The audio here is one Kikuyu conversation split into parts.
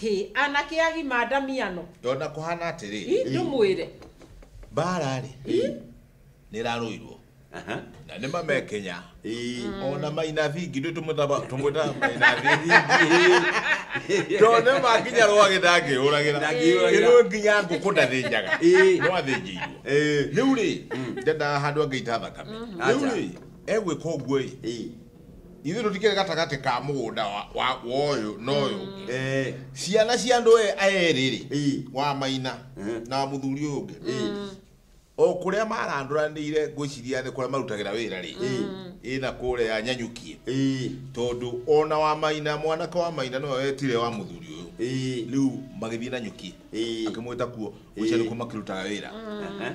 Hĩ, anake agima ndamiano. Ndona kũhana atĩrĩ. Ĩ, ndũmwĩre. Mbaara-rĩ, nĩ ĩrarũirwo. Na nĩ mamekenya. O na maina vingi, ithuĩ tũmũtaba- tũmwĩtaga maina vingi. Tondũ nĩ makinya rwagĩ ndangĩyũragĩra. Ndangĩyũragĩra. Ĩno nginya ngũkũ ndathĩnjaga. No athĩnjĩirwo. Rĩu-rĩ, ndendaga handũ angĩita thakame. Rĩu-rĩ, egwĩka ũguo-ĩ, ithuĩ tũtikĩrĩ gatagatĩ ka mũgũnda wa- wa wa ũyũ na ũyũ Eh, ciana cia andũ e- erĩ-rĩ Ĩ. wa maina Mhm. na mũthuri ũyũ ũngĩ o kũrĩa marandũranĩire ngwĩciria nĩ kũrĩa marutagĩra wĩra rĩ ĩna kũrĩa nyanyukie eh, tondũ ona wa maina mwanake wa maina nĩwe wetire wa mũthuri ũyũ eh, rĩu magĩthiĩ na nyuki eh. akĩmwĩta kuo gũcia nĩkuo makĩrutaga wĩra Aha.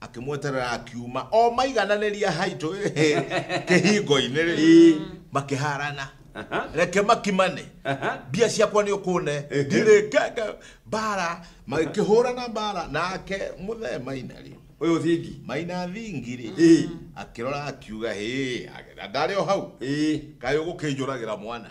akĩmweterera akiuma o maigananĩria haitũ kĩhingo-inĩ rĩ makĩharana Aha. reke makimane Aha. mbia ciakwa nĩ ũkũne ndirĩkenge mbara magĩkĩhũrana mbara nake mũthee maina rĩ Ũyũ thingi. maina thingi rĩ Ĩ. akĩrora akiuga hĩ na ndarĩ o hau Ĩ. kaĩ ũgũkĩnjũragĩra mwana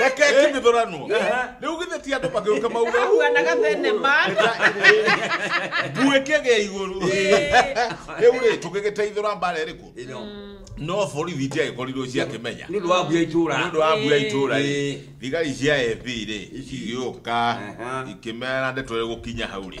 reke kĩmĩthũranwo rĩu githĩ ti andũ makĩruka mauga Mahuanaga thenema. mbuĩ kĩgĩa igũrũ rĩu rĩ tũgĩgĩteithũra mbara ĩrĩkũ no borithi itiagĩkorirwo ciakĩmenya nĩ ũndũ wa mbuya itũra nĩ ũndũ wa mbuya itũra rĩ thigari cia FB rĩ cigĩũka ikĩmera ndeto ĩgũkinya hau rĩ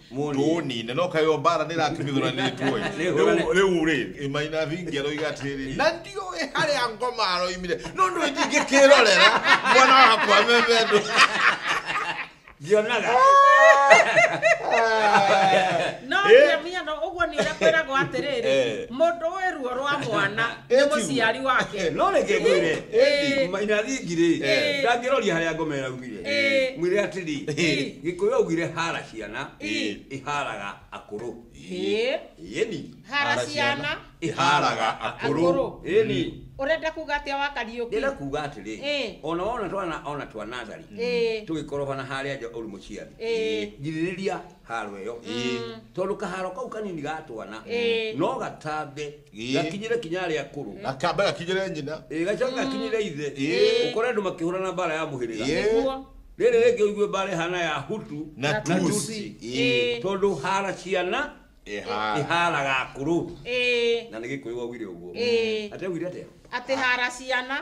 tũni na no kayo mbara nä ratumithåranä two rä u rä maina vingi aroiga atä rä rä na ndiå harä a ngoma aroimire no ndå njingä kä rorera mwana wakwa memendå ngionaga no Eh. nginya mũhiano ũguo nĩ ũrĩa kwĩragwo atĩrĩrĩ Eh. mũndũ ũĩ ruo rwa mwana nĩ Eti. mũciari wake no reke ngwire Eh. maina thingi rĩ Eh. ndangĩroria harĩa ngoma ĩraumire Ĩĩ. mwire atĩrĩ Ĩĩ. gĩkũyũ augire hara ciana Ĩĩ. iharaga akũrũ Ĩĩ. yeni hara ciana iharaga akũrũ Akũrũ. yeni ũrenda kuga atĩa wa kariũki ndĩra kuga atĩrĩ Ĩĩ. ona wona twana ona twanazari Ĩĩ. tũgĩkorobana harĩa nja ũrĩ mũciari Ĩĩ. girĩrĩria haro ĩyo tondũ kaharo kau kanini ga twana Ĩĩ. no gatambe Ĩĩ. gakinyĩre kinya arĩa akũrũ gakambe gakinyĩre nyina Ĩĩ, gacoke gakinyĩre ithe Ĩĩ. ũkore andũ makĩhũrana mbara ya mũhĩrĩga Ĩĩ. Nĩguo. rĩrĩ rĩngĩ ũigue mbara ĩhana ya hutu na Na tusi tusi. Ĩĩ. tondũ hara ciana Ĩhara. iharaga akũrũ Ĩĩ. na nĩ gĩkũyũ wagwire ũguo Ĩĩ. atewire atĩa atĩ hara ciana